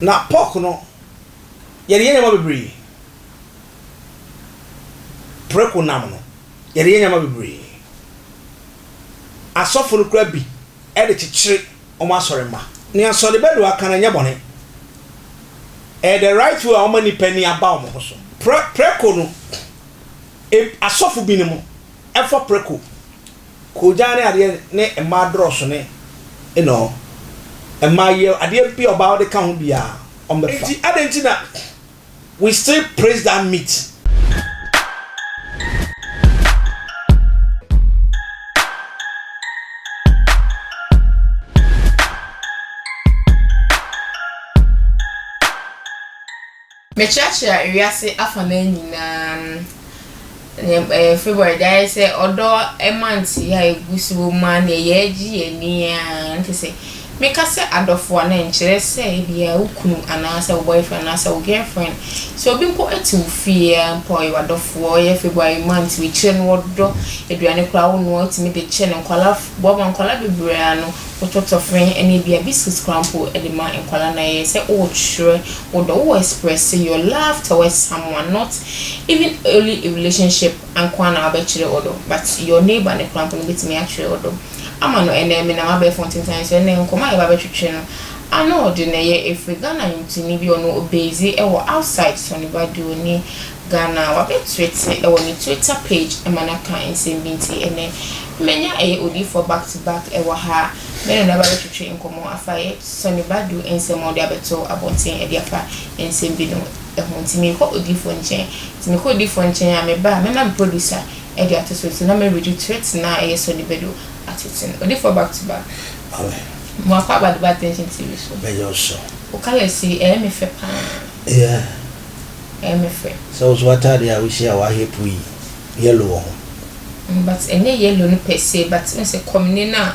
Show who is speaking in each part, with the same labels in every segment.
Speaker 1: Na pork no, yɛde yɛ nneɛma bebree. Preko nam no, yɛde yɛ nneɛma bebree. Asɔfo no koraa bi de kyekyere wɔn asɔremma. Nea Sɔre Badoa ka no, ɛnyɛ bɔne. Ɛyɛ the right way a wɔma nnipa ani aba wɔn ho so. Prɛ, preko no, eb, asɔfo binom fa preko. Koogyan ne adeɛ ne mmaa dorɔso ne you know mmaa yew adeɛ bi a ɔbaa ɔde ka ho biaa ɔmo bɛfa. Nti adɛn nti na we still praise that meat.
Speaker 2: Mekyerɛkyerɛ wiase afanan nyinaa no nea ɛyɛ February de ayɛ sɛ ɔdɔ month yi a egu so wɔ mu a nea yɛagye yɛn ani ara ne te sɛ meka sɛ adɔfo a na ɛnkyerɛ sɛ ebia wo kunu anaasɛ wo boyfriend anaasɛ wo girlfriend sɛ obi mpo te wo fie a mpo ɔyɛ w'adɔfo ɔyɛ February month wei kyerɛ no ɔdɔ aduane koraa wo noa wotumi de kyɛ no nkɔla boaboa nkɔla bebree ano wotɔtɔ fɛn ɛne ebia biscuits koraa mpo de ma nkɔla na ɛyɛ sɛ wokyerɛ wo dɔ wo express your love towards someone not even only a relationship nkoaa na wabɛkyerɛ wo dɔ but your neighbour no koraa mpo no bɛtumi akyerɛ wo dɔ ama no ɛnɛ menam abɛɛfo ntentan so ɛnɛ nkɔmɔ a yɛba bɛtwetwe no Arnold no yɛ ɛfiri Ghana nwomtoni bi ɔno ɔbasee ɛwɔ outside Sonny Badio ne Ghana wabɛtwete ɛwɔ ne Twitter page ɛma no aka nsɛm bi nti ɛnɛ manya ɛyɛ odiyifoɔ back to back ɛwɔ ha a me ne no aba bɛtwetwe nkɔmɔ afa yɛ Sonny Badu nsɛm a ɔde abɛto abɔnten ɛde afa nsɛm bi no ho nti mekɔ odiifoɔ nkyɛn nti mekɔ odiifoɔ nkyɛn a meba a mɛma me producer ɛde ato so nti na me redo threat no a ɛyɛ Sonny Badu atete no odiifoɔ back to back mo
Speaker 1: akɔ aba deba
Speaker 2: attention TV so bɛyɛ ɔsɔ wo
Speaker 1: colours yi
Speaker 2: ɛyɛ me fɛ paa
Speaker 1: yeah ɛyɛ
Speaker 2: me fɛ. Sɛ wo so w'ataadeɛ a
Speaker 1: wohyɛ a w'ahɛ puu yi yellow wɔ ho.
Speaker 2: But ɛnyɛ yellow no per se but wohu sɛ kɔmene no a.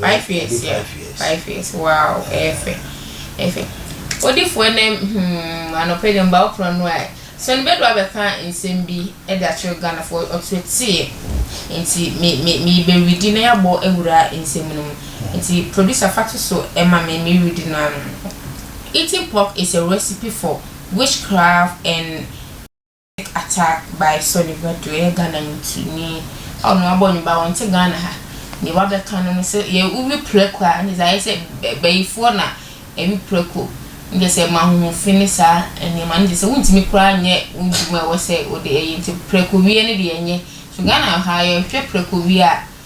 Speaker 2: Five years ya five years wow ɛyɛ fɛ ɛyɛ fɛ odifo ɛnɛ hmm anɔpɛ dɛ mba ɔkora no a sɔni bɛdo abɛka nsɛm bi ɛde akyerɛ Ghana fo ɔto ɛteɛ nti me me me bɛredi na yabɔ awura nsɛm no mu nti producer fa to so ɛma me me redi no ano eating pork is a recipe for witchcraft and Atta by Sonny Badu ɔyɛ Ghana ntini a ɔno wabɔ ne ba ɔnte Ghana ha deɛ wabɛka no no sɛ yɛ wowi prɛko a ne sɛ ayɛ sɛ bayifoɔ na ɛwi prɛko ne kyɛ sɛ ma hoho fi ne saa nneɛma ne kyɛ sɛ wontumi koraa nyɛ wo dwuma ɛwɔ sɛ wode ɛyɛ nti prɛko wie no deɛ ɛnyɛ so Ghana ha yɛhwɛ prɛko wie a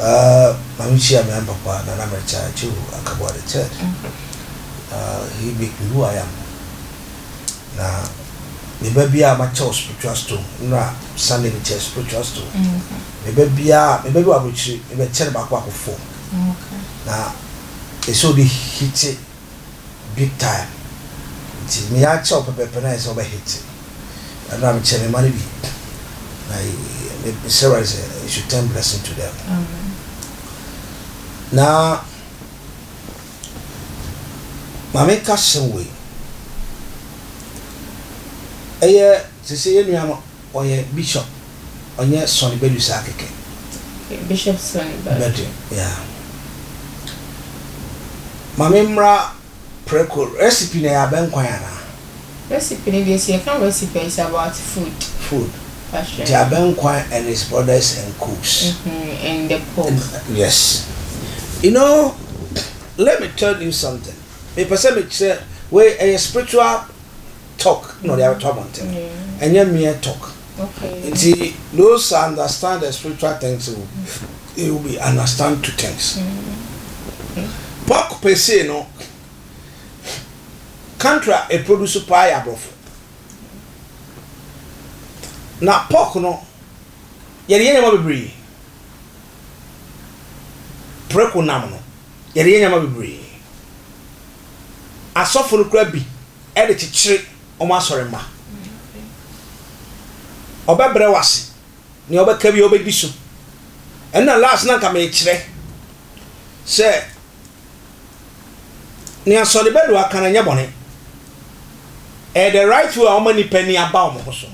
Speaker 1: Aa ma me kyia me ampapa na na me kya kyew akaboa the third uh, he make me who I am na me ba bia a ma kyɛw spiritual stone nra Sunday me kyɛ spiritual stone me ba bia me ba bi wɔ abrokyire me bɛ kyɛ no baako baako fo na ɛsɛ ɔde hite big time nti me a kyɛw pɛpɛpɛ na ayɛ sɛ ɔbɛ hit ɛno na mekyɛ me ma no bi na mesrɛ wade sɛ it should turn blessing to them na ma menka hyɛm wei ɛyɛ sese yɛ nua no Ɔyɛ bishop ɔnyɛ sɔne badu saa kɛkɛ. Okay bishop
Speaker 2: sɔne badu. Badu
Speaker 1: yeah mame mmra prɛko recipe no ɛyɛ abɛnkwan anaa. Recipe no
Speaker 2: deɛ sɛ yɛka recipe a it's about food. Food nti
Speaker 1: abɛnkwan and it's brothers and cooks. Mm-hmm and the
Speaker 2: pork. Yes
Speaker 1: you know let me tell you something mepɛ sɛ mekyerɛ wei ɛyɛ spiritual talk na ɔde abɛto abɔnten ɛnyɛ mere talk nti
Speaker 2: those
Speaker 1: understand the spiritual things will, they will be understand two things pork pesee no country a ɛproduce paa yɛ aborɔfo na pork no yɛde yɛ nneɛma bebree preko nam no yɛde yɛ nneɛma bebree asɔfo no kora bi de kyekyere wɔn asɔremma. Ɔbɛbrɛ wo ase. Nea ɔbɛka bi ɔbɛdi so. Ɛna last na nka mekyerɛ sɛ nea sɔre bɛdo aka no nyɛ bɔne. Ɛyɛ the right way a wɔma nnipa ani aba wɔn ho so.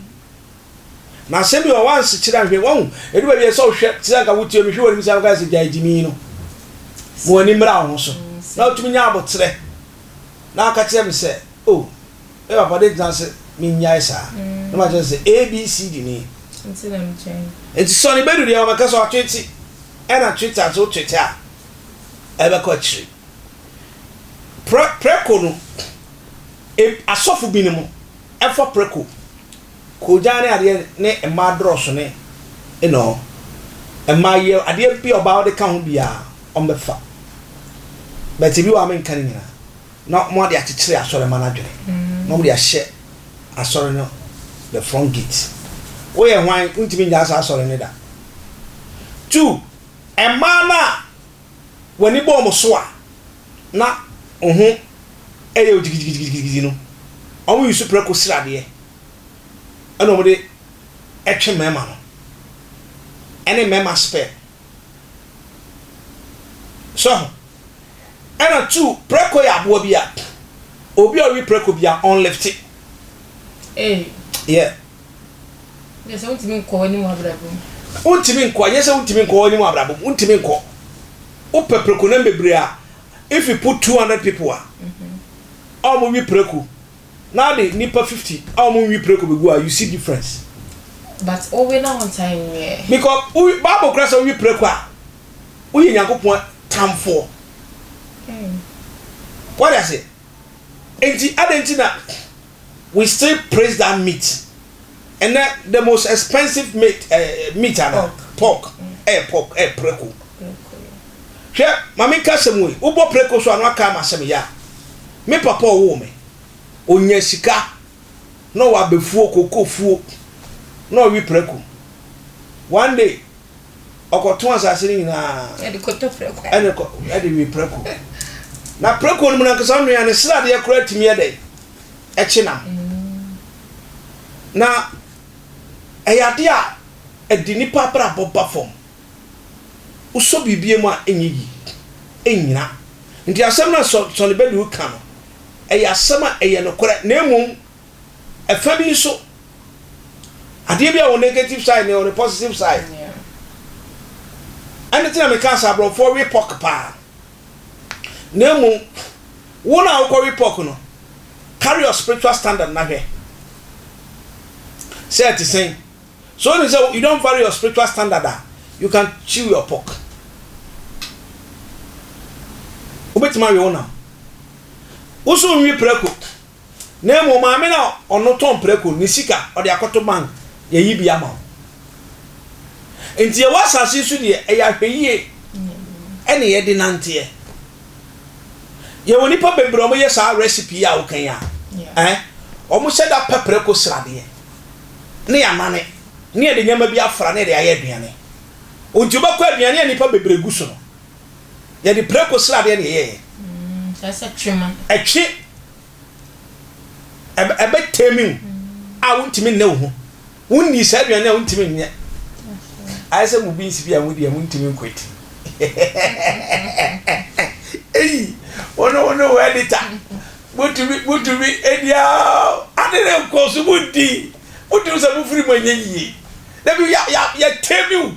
Speaker 1: Na asɛm bi wɔ wansekyerɛ anhwɛ wahu edu baabi a sɛ wohwɛ te sɛ nka wotie mehwɛ w'anim sɛ nka sɛ gyae gyimi no ma w'ani mmra wo ho so na wotumi nya aboterɛ na ɔka kyerɛɛ me sɛ, O, me papa, dɛn nti na wose minnyae saa? Na makyerɛ no sɛ, ABCD ni.
Speaker 2: Enti sɔre bedu deɛ
Speaker 1: wɔbɛka sɛ watwete, ɛna twete a, sɛ wotwete a, ɛbɛkɔ akyiri. Prɛ, prɛko no, eb, asɔfo binom fa prɛko Koogyan ne adeɛ ne mmaa dorɔso ne nɔɔ mmaa yie adeɛ bi a ɔbaa ɔde ka ho biaa ɔmo bɛ fa but ebi wɔ a me nka ne nyinaa na ɔmo ade akyekyere asɔre ma no adwene na ɔmo de ahyɛ asɔre no the front gate wo yɛ hwan wo ntumi nyaa saa asɔre no da two mmaa no a wani bɔ ɔmo so a. na wo ho yɛ wo gyigigyigyigigyigyi no, wɔn yi so prako sradeɛ ɛna wɔn de ɛtwe mmarima no, ɛne mmarima sperm. So ho? Ɛna two, prako yɛ aboa bi a, obi a ɔwe prako bi a ɔnlifte. Hey. Yeah. Nyɛ
Speaker 2: sɛ wontumi nkɔ w'anim wɔ abrabɔ mu. Wontumi nkɔ,
Speaker 1: nyɛ sɛ wontumi nkɔ w'anim wɔ abrabɔ mu, wontumi nkɔ. Wopɛ prekonam bebree a, if you put 200 people a ɔmo we preko na ɔde nipa 50 a ɔmo nwe preko begu a, you see difference. But
Speaker 2: wowe na wonsan nwe ɛ? Because wo, Bible
Speaker 1: kora sɛ wowe preko a, woyɛ Nyankopɔn tamfoɔ. Wate aseɛ? Enti adɛn nti na. we still praise that meat ɛnɛ the most expensive meat ɛɛ eh, eh, meat ana pork ɛyɛ eh, pork ɛyɛ preko hwɛ maame nka sɛm wei wobɔ preko so ano aka ama sɛm yɛ a me papa ɔwoo me onya sika na ɔwɔ abɛfuo kokofuo na ɔwe preko one day ɔkɔto asase no nyinaa
Speaker 2: ɛde we
Speaker 1: preko na preko no mu nankasa nnuane sradeɛ koraa tumi yɛ dɛn ɛkye nam. Na ɛyɛ adeɛ a ɛde nnipa abrabɔ ba fam. Wosɔ biribi mu a ɛnyɛ yie, ɛnnyina. Nti asɛm no a Sonny Badu reka no, ɛyɛ asɛm a ɛyɛ nokorɛ. Na mmom, ɛfa bi nso, adeɛ bi a wɔ negative side na ɛwɔ ne positive side. Ɛno nti na mekaa sɛ aborɔfoɔ we pork paa. na mmom wo na wokɔ we pork no carry your spiritual standard na hwɛ sɛ ɛte sɛn so wonim sɛ you don't vary your spiritual standard a you can chew your pork wobɛtumi awe wo nam wo so nwi prɛko na mmom maame na ɔno tɔn prako ne sika ɔde akɔto bank yɛyi bi ama wo nti yɛwɔ asase so deɛ ɛyɛ ahwɛyie ɛne yɛde nanteɛ yɛwɔ nipa bebree wɔn yɛ saa recipe yi a wokan a ɛɛ wɔn hyɛ da pɛ prako sradeɛ ne yɛ anane ne yɛde nneɛma bi afra ne yɛde ayɛ aduane nti wobɛkɔ aduane a nipa bebree gu so no Yɛde prako sradeɛ na yɛyɛeɛ. Kyerɛ sɛ
Speaker 2: twe ma. Ɛtwe.
Speaker 1: Ɛbɛ ɛbɛ tɛmi wo a wontumi nnɛ wo ho. Wonni saa aduane a wontumi nyɛ. Ayɛ sɛ mo beans bi a modi a montumi nkwati. Eyi wo ne wo ne wo editor motumi motumi edi a ade ne nkɔ so modi motumi sɛ mofiri mu anyɛ yie. Dabi yɛ yɛ yɛtɛmi wo.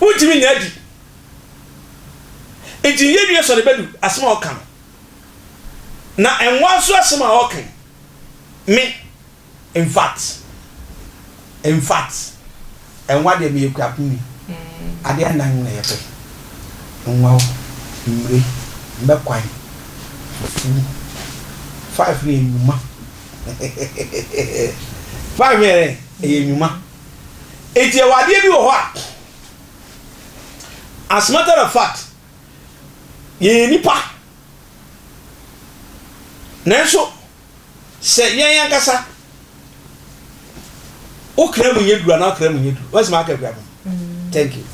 Speaker 1: Wontumi nnya adi. Enti nnyɛ wie sɔre bɛdu asɛm a ɔka no, na ɛnwa nso asɛm a ɔka yi. Me, in fact, in fact. Nwa deɛ meyɛ kuapuni adeɛ nnan na yɛpɛ nwa o mmire mmɛkwan fufuo five no yɛ nnwuma five no yɛ dɛn ɛyɛ nnwuma eti ɛwɔ adeɛ bi wɔ hɔ a as matter of fact yɛyɛ nipa nanso. sɛ yɛn ankasa wo kra mu nyɛ duru anaa wo kra mu nyɛ duru wɔn asɛm aka kura mu thank you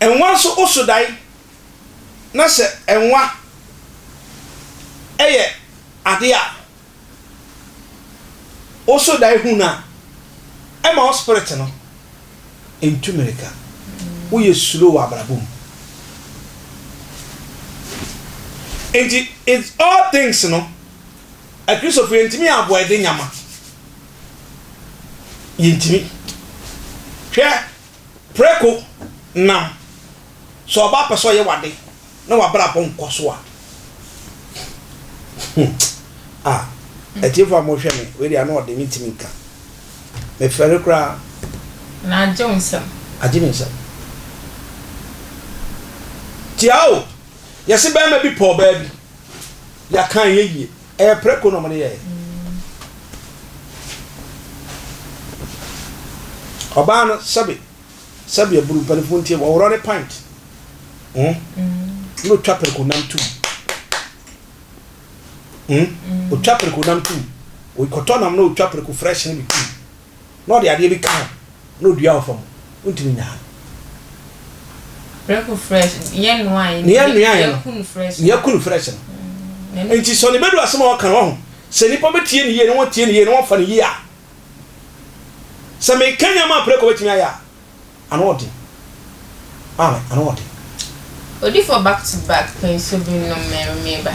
Speaker 1: nwa nso woso dae na sɛ nwa ɛyɛ ade a woso dae hu no a ɛma wo spirit no Ntu mmirika. Woyɛ slow wɔ abrabɔ mu. Nti in all things no, Akristofo yɛntumi yɛ aboɛde nyama. Yɛntumi. Hwɛ, preko nam. Sɛ ɔba pɛ sɛ ɔyɛ w'ade. na w'abrabɔ nkɔ so a ah atiefo a mohwɛ me wei deɛ ano ɔde me ntumi nka me fɛre koraa na agye
Speaker 2: wo nsɛm agye me nsɛm
Speaker 1: tia o yɛse bɛrima bi pɔɔ baa bi yɛaka ɛyɛ yie ɛyɛ prɛko na ɔmode yɛɛ ɔbaa no sɛbe sɛdeɛ buru mpanimfoɔ ntie wɔworɔ ne pint hmm? na ɔtwa pereko nam tum ɔtwa hmm? pereko nam tum ɔkɔtɔ nam na ɔtwa pereko fresh ne bi tum na ɔde adeɛ bi ka ho na ɔdua wɔ fam wontumi nyaa
Speaker 2: no yɛkunu
Speaker 1: fresh no hmm, nti sɛ ne bɛdu asɛm a wɔka no ho sɛ nnipa bɛtie ne yie ne wɔtie ne yie ne wɔmfa ne yie a Sɛ meka nneɛma a preko betumi ayɛ a, ano wɔ den. Maame, ano wɔ den.
Speaker 2: Odifoɔ back to back pɛ nsuo bi nom me meba.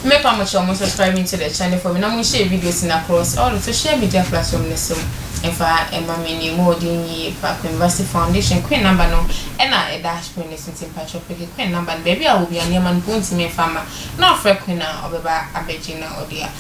Speaker 2: Me pa mo kyɛw mo subscribe into the channel for me na mo share videos no across all the social media platform no so mfa ɛma me nie mo wɔ din yie pa Queenvasy foundation Queen number no ɛna ɛda screen no so nti mpakyɛw peke Queen number no baabi a wɔ bia nneɛma no po ntumi mfa ma na ɔfrɛ Queen a ɔbɛba abɛgye na ɔde a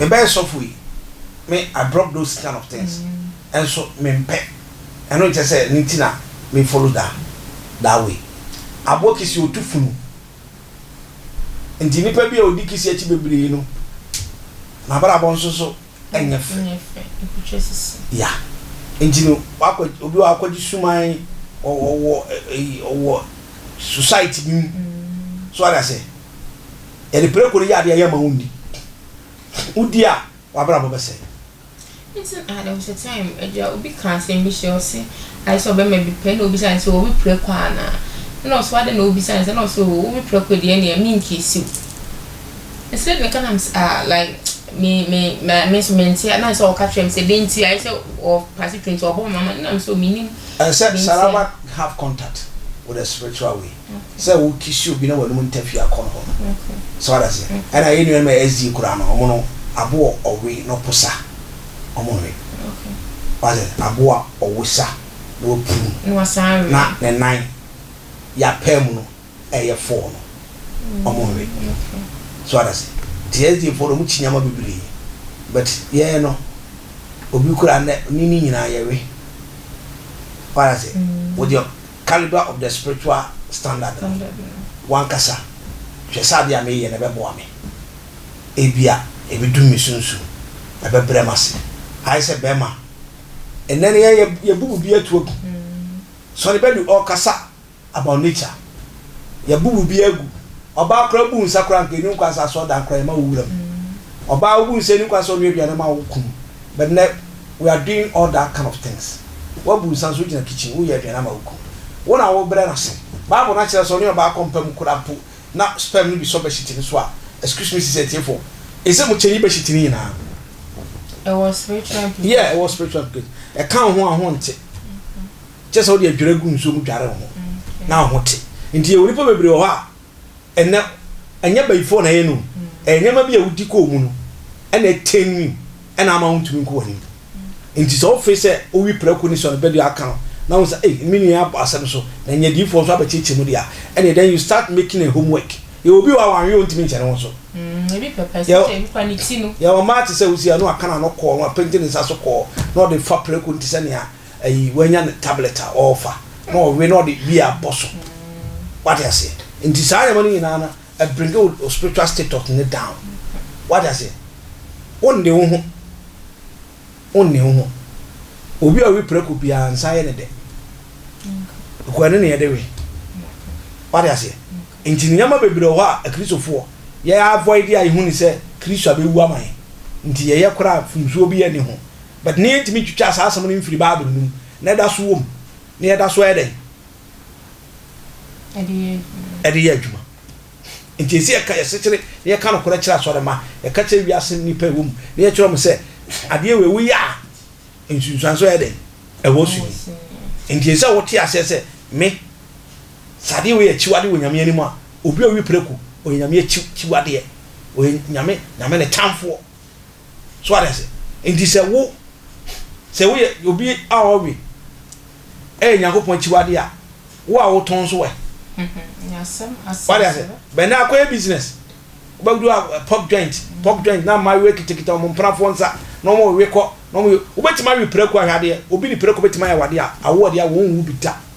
Speaker 1: Mebɛyɛ sɔfo yi me I drop those kind of things nso mempɛ ɛno nkyɛ sɛ ɛno nti na me follow that that way aboɔ kisi otu funu nti nipa bi a odi kisi akyi bebree no n'abrabɔ nso so ɛnyɛ fɛ ya nti no wakɔ obi wɔ akɔgye suman ɔwɔ ɔwɔ society bi mu so ara sɛ. Yɛde preko reyɛ adeɛ a yɛmma wo ndi. Wodi a, w'abrabɔ bɛsɛe. Nti
Speaker 2: na there was a time agya obi ka asɛm bi hyɛ ɔse ayɛ sɛ ɔbɛma bi pɛ na obisa no sɛ wowe prɛko anaa ɛna ɔse adɛn na wobisa no saa na ɔse oo wowe prɛko deɛ ɛneɛ menkeesiw me sɛ ne ka na mese ah like me me me me nso mente a na ɛsɛ ɔka kyerɛ me sɛ dɛn nti ayɛ sɛ ɔpase twe nti
Speaker 1: ɔbɔ
Speaker 2: mama na mese
Speaker 1: oo
Speaker 2: menim
Speaker 1: ɛsɛ
Speaker 2: Sarawak have contact with a
Speaker 1: spiritual way te sɛ wo kisi obi na w'anum ntafiri akɔ ne hɔ no so wate aseɛ ɛna yɛ nuanom a ɛsdi koraa no ɔmo no aboɔ ɔwe na ɔpo sa ɔmo nwe wate aboa ɔwe sa na wapuru na ne
Speaker 2: nan
Speaker 1: yɛ apaa mu no ɛyɛ fɔɔ no ɔmo nwe so wate aseɛ nti ɛsdi foɔ no ɔmo kyi nneɛma bebree but yɛ no obi koraa ne ne nyinaa yɛwe wate aseɛ wodeɛ Calibre of the Spiritual Standard no, w'ankasa hwɛ sɛ ade a mereyɛ no bɛboa me. Ebia ebedum me sunsum, ɛbɛbrɛ m'ase. Ayɛ sɛ bɛrima. Ɛnnɛ no, yɛn, yɛabu biribi atu agu. Sonny Badu ɔrekasa about nature. Yɛabu biribi agu. Ɔbaa koraa bu nsa koraa, anka enni kwan sɛ asɔredan koraa yɛma wo wura mu. Ɔbaa, wubu nsa, enni kwan sɛ ɔnoa aduane ma wo kunu. But nnɛ. we are doing all that kind of things wabu nsa nso gyina kitchen woyɛ aduane ama wo kunu wo na wo brɛ no ase bible no akyerɛ sɛ ɔne ɔbaa kɔ mpa mu kora mpo na sperm no bi sɔ bɛhyiti no so a excuse me sisi atiefo ɛsɛ mu kyɛnyi bɛhyiti no nyinaa ɛwɔ
Speaker 2: spiritual implication yeah ɛwɔ spiritual
Speaker 1: implication ɛka wo ho a ho nte kyɛ sɛ wode adwira gu nsuo mu dware wo ho na wo ho te nti yɛwɔ nipa bebree wɔ hɔ a ɛnɛ ɛnyɛ bayifoɔ na ɛyɛ no ɛyɛ nneɛma bi a wodi kɔɔ mu no ɛna ɛtɛn wi ɛna ama wontumi nkɔ w'anim nti sɛ wofe sɛ wowi prɛko ne sɔre bɛdua aka no na wo sɛ ei me nua abɔ asɛm so na nyɛ diifoɔ nso abɛkyekyɛ mu deɛ ɛne then you start making a homework yɛwɔ bi wɔ a wanwe ɔntumi nkyɛ ne ho so
Speaker 2: yɛwɔ mmaa te sɛ wosi a
Speaker 1: na waka no ano kɔɔ no apenti ne nsa so kɔɔ na ɔde fa prɛko nti sɛ nea ayi wanya ne tablet a ɔrefa na ɔwe na ɔde wia bɔ so wate aseɛ nti saa nneɛma no nyinaa no ɛ bring wo o spiritual status no down wate aseɛ wonne wo ho wonne wo ho obi a ɔwe prako biara nsa yɛ ne dɛ ɛkɔ ɛne ne yɛde we wate aseɛ nti nneɛma bebree wɔ hɔ a akristofoɔ yɛ avoid a yɛhu ne sɛ kristo a bɛwu ama yɛn nti yɛyɛ koraa fomsuo bi yɛ ne ho But nnɛ yɛntumi ntwitwaa saa asɛm no mfiri Bible no mu, na ɛda so wɔ mu, na yɛda so yɛ dɛn? Ɛde yɛ adwuma. Ɛde yɛ adwuma. Nti ɛsɛ yɛka yɛ sekyere na yɛka nokorɛ kyerɛ asɔre mma, yɛka kyerɛ wiase nnipa ɛwɔ mu, na yɛkyerɛ wɔn sɛ adeɛ wei woyɛ a nsunsuan so yɛ dɛn? Ɛwɔ so ni. Nti ɛsɛ sɛ wote aseɛ sɛ me, sɛ adeɛ wei yɛ akyiwadeɛ wɔ Nyame anim a, obi a ɔwi prɛko, ɔyɛ Nyame akyiwadeɛ, ɔyɛ Nyame, Nyame ne tamfoɔ. So ate ase? Nti sɛ wo, sɛ woyɛ obi a ɔwe ɛyɛ Nyankopɔn akyiwade a, wo a wotɔn nso ɛ?
Speaker 2: Wate ase?
Speaker 1: Bɛn na akɔyɛ business? Wobɛdu a pork joint, pork joint na mmaayewa kitakita wɔn mpenafoɔ nsa na wɔn rewe kɔ na wɔn yɛ, wobɛtumi awe prako ahwɛ adeɛ, obi ne prako bɛtumi ayɛ awadeɛ a, awoɔdeɛ a wɔn nwu bi da.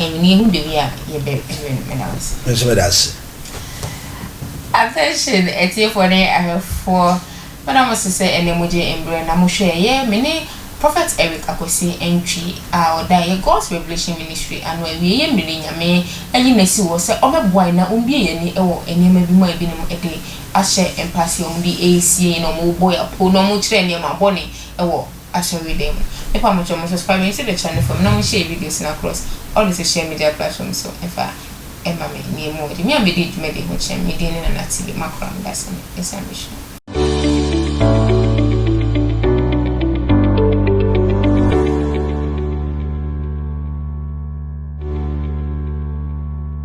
Speaker 2: Amen yehu da bi a yɛbɛ win me da wo se. Me nso me da se.
Speaker 1: Attention
Speaker 2: atiefoɔ ne ahwɛfoɔ mo na mo se sɛ ɛnɛ mo gye mbrɛ na mo hwɛ yɛ me ne Prophet Eric Akwasi Antwi a ɔda yɛ God's Revelation Ministry ano awie yɛ mire Nyame ayi no asi hɔ sɛ ɔbɛ boa yɛ na ɔmbue yɛ ani wɔ nneɛma bi mu a ebinom de ahyɛ mpaseɛ ɔmo de resie yɛ na ɔmo bɔ yɛ apoo na ɔmo kyerɛ nneɛma bɔne wɔ asɔredan mu. Ne pa mo kyerɛ mo subscribe me nso bɛkyerɛ no fam na mo share videos no across all the social media platforms so ɛfa ɛma me nea mu wɔ de. Me a mɛdi dwumadi ho kyerɛ me me din ne Nana TV makora meda ase me nsa me hwɛ.